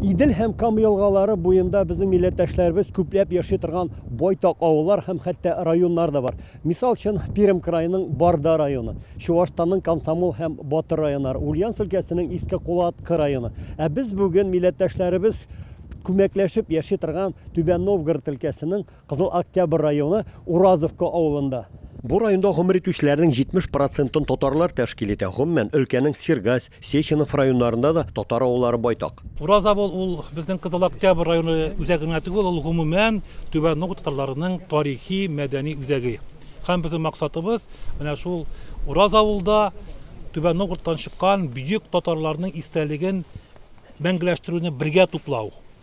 Идел һәм Кама елгалары буенда безнең милләттәшләребез күпләп яши торган байтак авыллар һәм хәтта районнар да бар. Мисал өчен, Пермь краеның Барда районы, Чуашстанның Комсомол һәм Батыр районнары, Ульяновск өлкәсенең Иске Кулаткы районы. Ә без бүген милләттәшләребез күмәкләшеп яши торган Түбән Новгород өлкәсенең Кызыл Октябрь районы Уразовка авылында. Бу районда гомер итүчеләрнең 70 процентын татарлар тәшкил итә. Гомумән, өлкәнең Сергась, Сеченов районнарында да татар авыллары байтак. Ураз авыл ул безнең Кызыл Октябрь районы үзәге генә түгел, ул гомумән Түбән Нугу татарларының тарихи, мәдәни үзәге. Һәм безнең максатыбыз менә шул Ураз авылда Түбән Новгородтан чыккан бөек татарларның истәлеген мәңгеләштерүне бергә туплау.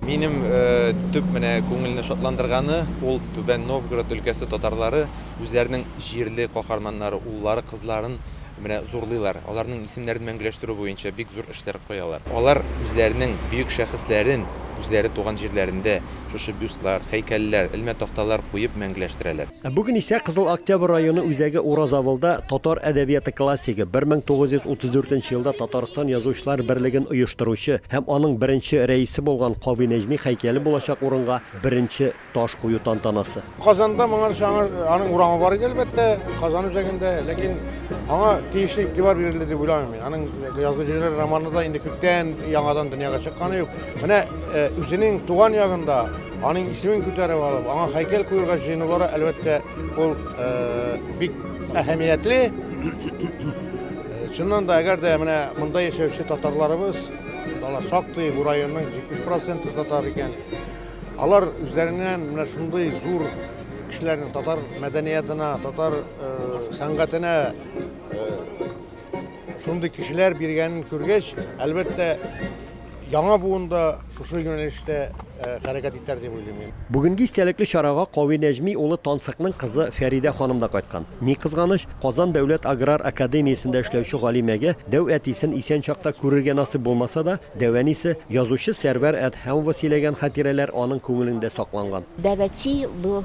Минем төп менә күңелне шатландырганы, ул Түбән Новгород өлкәсе татарлары үзләренең җирле каһарманнары, уллары, кызларын менә зурлыйлар. Аларның исемнәрен мәңгеләштерү буенча бик зур эшләр куялар. Алар үзләренең бөек шәхесләрен үзләре туган җирләрендә шушы бюстлар, һәйкәлләр, элмә такталар куеп мәңгеләштерәләр. Ә бүген исә Кызыл Октябрь районы үзәге Уразавылда татар әдәбияты классигы, 1934 елда Татарстан Язучылар берлеген оештыручы һәм аның беренче рәисе булган Кави Нәҗми хәйкәле булачак урынга беренче таш кую тантанасы. Казанда моңарчы аның урамы бар иде, әлбәттә, Казан үзәгендә, ләкин аңа тиешле игътибар бирелде дип уйламыйм мин. Аның Язгы җирләр романы да инде күптән яңадан дөньяга чыкканы юк. Менә үзенең туган ягында Аның исемен күтәреп алып, аңа һәйкәл куярга җыенулары, әлбәттә, ул бик әһәмиятле. Чыннан да, әгәр дә менә монда яшәүче татарларыбыз, алар шактый, бу районның 70 проценты татар икән, алар үзләреннән менә шундый зур кешеләрнең татар мәдәниятына, татар сәнгатенә Шундый кешеләр биргәнен күргәч, әлбәттә, яңа буын да шушы юнәлештә э, хәрәкәт итәр дип уйлыйм мин. Бүгенге истәлекле чарага Кави Нәҗми улы Тансыкның кызы Фәридә ханым да кайткан. Ни кызганыч, Казан дәүләт аграр академиясендә эшләүче галимәгә дәү әтисен исән чакта күрергә насыйп булмаса да, дәү әнисе, язучы Сәрвәр Әдһәмова сөйләгән хатирәләр аның күңелендә сакланган. Дәвәти бу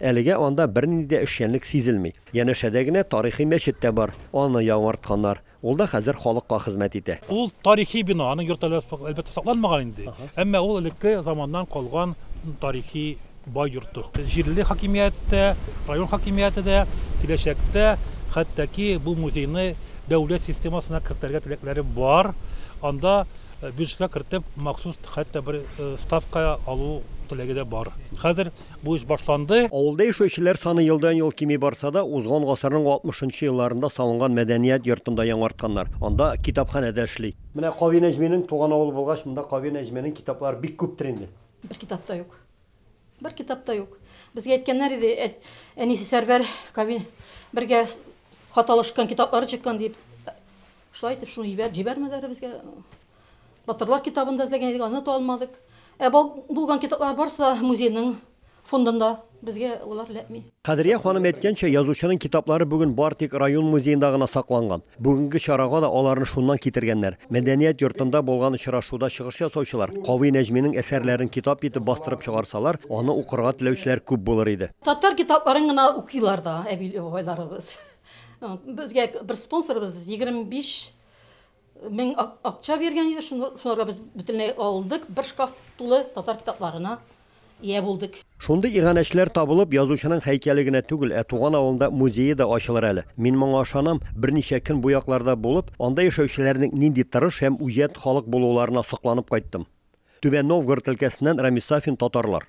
Әлегә анда бернинди дә эшчәнлек сизелми. Янәшәдә генә тарихи мәчет тә бар, аны яңартканнар, ул да хәзер халыкка хезмәт итә. Ул тарихи бина, аның йорты әле, әлбәттә, сакланмаган инде, әмма ул элекке заманнан калган тарихи бай йорты. Җирле хакимият тә, район хакимияте дә киләчәктә хәтта-ки бу музейны дәүләт системасына кертергә теләкләре бар, анда бюджетка кертеп махсус хәтта бер ставка алу теләге дә бар. Хәзер Бу эш башланды. Авылда яшәүчеләр саны елдан-ел кими барса да, узган гасырның алтмышынчы елларында салынган мәдәният йортын да яңартканнар. Анда китапханә дә эшли. Менә Кави Нәҗминең туган авылы булгач, монда Кави Нәҗминең китаплары бик күптер инде. Бер китап та юк. Бер китап та юк. Безгә әйткәннәр иде, әт, әнисе Сәрвәр Кави бергә хат алышкан, китаплары чыккан дип. Шулай итеп, шуны җибәр, җибәрмәләр безгә. Батырлар китабын да эзләгән идек, аны да алмадык. Ә бал булган китаплар барысы да музейның фондында. Безгә алар эләкми. Кадрия ханым әйткәнчә, язучының китаплары бүген бар тик район музеенда гына сакланган. Бүгенге чарага да аларны шуннан китергәннәр. Мәдәният йортында булган очрашуда чыгыш ясаучылар, Кави Нәҗминең әсәрләрен китап итеп бастырып чыгарсалар, аны укырга теләүчеләр күп булыр иде. Татар китапларын гына укыйлар да әби-бабайларыбыз. Безгә бер спонсорыбыз 25 Мең акча биргән иде, шунларга без бөтенләй алдык, бер шкаф тулы татар китапларына ия булдык. Шундый иганәчеләр табылып, язучының һәйкәле генә түгел, ә туган авылында музее да ачылыр әле. Мин моңа ышанам, берничә көн бу якларда булып, анда яшәүчеләрнең нинди тырыш һәм үҗәт халык булуларына сокланып кайттым. Түбән Новгород өлкәсеннән Рамис Сафин, Татарлар.